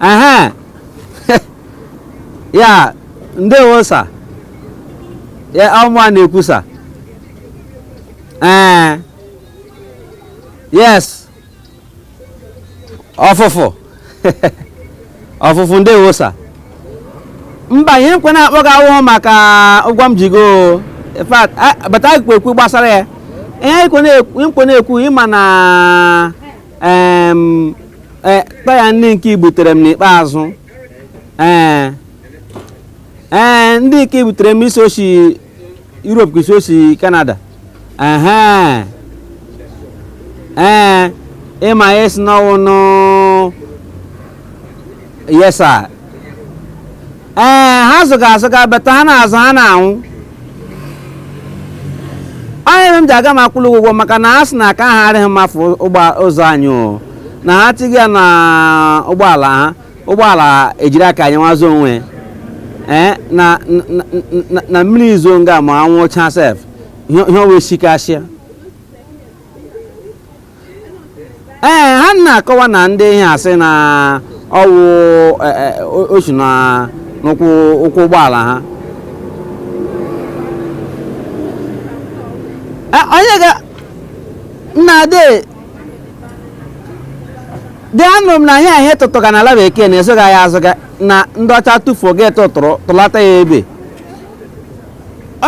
ehe ya ndewo sa ya ọ mụwa na-ekwu sa ee yes ọfụfụ ọfụfụ ndewo sa mba ihe m kwo na-akpọ gị awụhụ maka ụgwọ m ji gị o in fact a- bata ekwu okwu gbasara ya ihe m kwo na-ekwu ị ma na Em, e, taya ndị nke i butere m n'ikpeazụ ee ee ndị nke i butere m ị sị o si Europe ka ị sị o si Canada ehe ee ị ma ya ị sị n'ọ wụ new yes sa ee ha zụga azụga beta ha na-azụ ha na-anwụ onye m ji aga m akwụla gị ụgwọ maka na ha sị na aka ha arịghị mma for ụzọ anyị o na ha tiga na ụgbọala ha ụgbọala ejiri aka anyị nwazo onwe ya. ee na na- na- na mmiri zo nga ma anwụ cha sef ihe ihe o wee sikasịa ee ha na-akọwa na ndị ihe a sị na ọ wụ e, e, o- o si na n'ụkwụ ụkwụ ụgbọala ha E, onye ga nna de dị anụrụ m na ihe ihe tụtụga na ala bekee na ị zụghị ya azụga na ndị ọcha tụfuo gị atụtụrụ tụlata ya ebe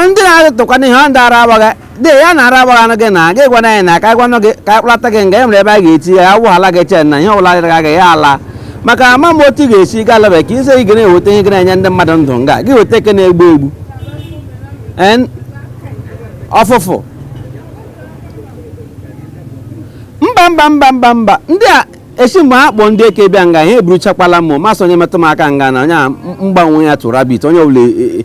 ndị na-atụkwana ihe ọ ndị ara agbaghị dị ya na ara agbaghị anụ gị na gị gwana anyị na aka gwanụ gị ka akpụlata gị nga e nwere ebe a ga-eti ya awụ ala gị chain na ihe ọbụla dịrị gị ya ala maka ama m otu ị ga-esi gaa ala bekee sị ị ga na-eweta ihe ga na-enye ndị mmadụ ndụ nga gị weta nke na-egbu egbu ọfụfụ mba mba mba mba mba ndị a esi mgbe ha kpọọ ndị eke bịa nga ihe eburuchakwala m ma sị onye metụ m aka nga na onye a mgbanwe ya tụrụ abit onye ọbụla e, e,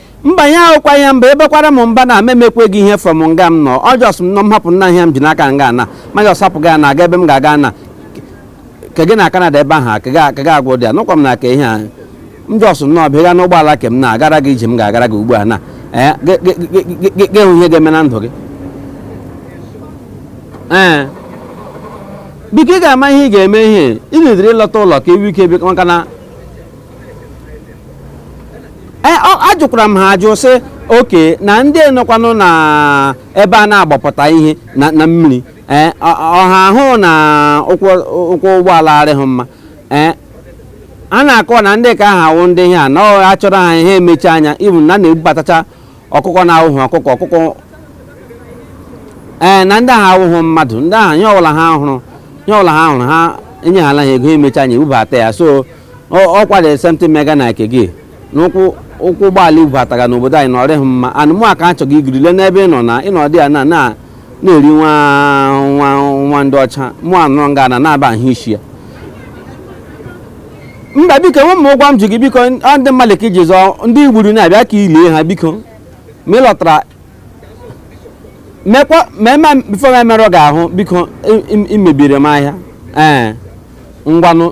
mba ya wụkwa ya mba ị bakwara m mba na m emekwe gị ihe from nga m nọ ọ jọs m nọ m hapụ nna ihe m ji n'aka nga ana ma jọs hapụ gị ana aga ebe m ga-aga na ke gị na Canada ebe ahụ ka ga- ka ga agwụ dị ya nụkwa m na ka ihe a m jọs nnọọ bịa n'ụgbọala ke m na agara gị ije m ga-agara gị ugbu a na ee gị- gị- gị- gị- gị- gị hụ ihe ga-eme na ndụ gị ee biko ị ga-ama ihe ị ga-eme ihe ị na-ediri ịlọta ụlọ ka ewu ike bịa maka na e, ajụkwara m ha ajụ sị okay na ndị nọkwanụ na ebe a na-agbapụta ihe na mmiri e, ọ ha hụ na ụkwụ ụgbọala arịghị mma e, ha na-akọ na ndị ka ahụ wụ ndị ihe a na a chọọrọ ha ihe ha emechi anya ibu na na-ebubatacha ọkụkọ na-awụghị ọkụkọ ọkụkọ ee na ndị ahụ awụghị mmadụ ndị ahụ ihe ọbụla ha hụrụ ihe ọbụla ha hụrụ ha enye ha ego emechi anya ebubata ya so ọ kwara the same thing mega na ike gị n'ụkwụ ụkwụ ụgbọala ebubataga n'obodo anyị na ọ rịghị mma and mụ aka achọghị igiri le n'ebe ị nọ na ịnọdụ ya na na na-eri nwa nwa nwa ndị ọcha mụ anọrọ nga na na-aba ahụ isi ya mba biko enwe m ụgwọ m ji gị biko ọ ndị mmadụ ka iji zọọ ndị i gburu na-abịa ka i lie ha biko ma ị lọtara mekwa ma eme before m emerụ gị ahụ biko i- i- i mebiri m ahịa ee ngwanụ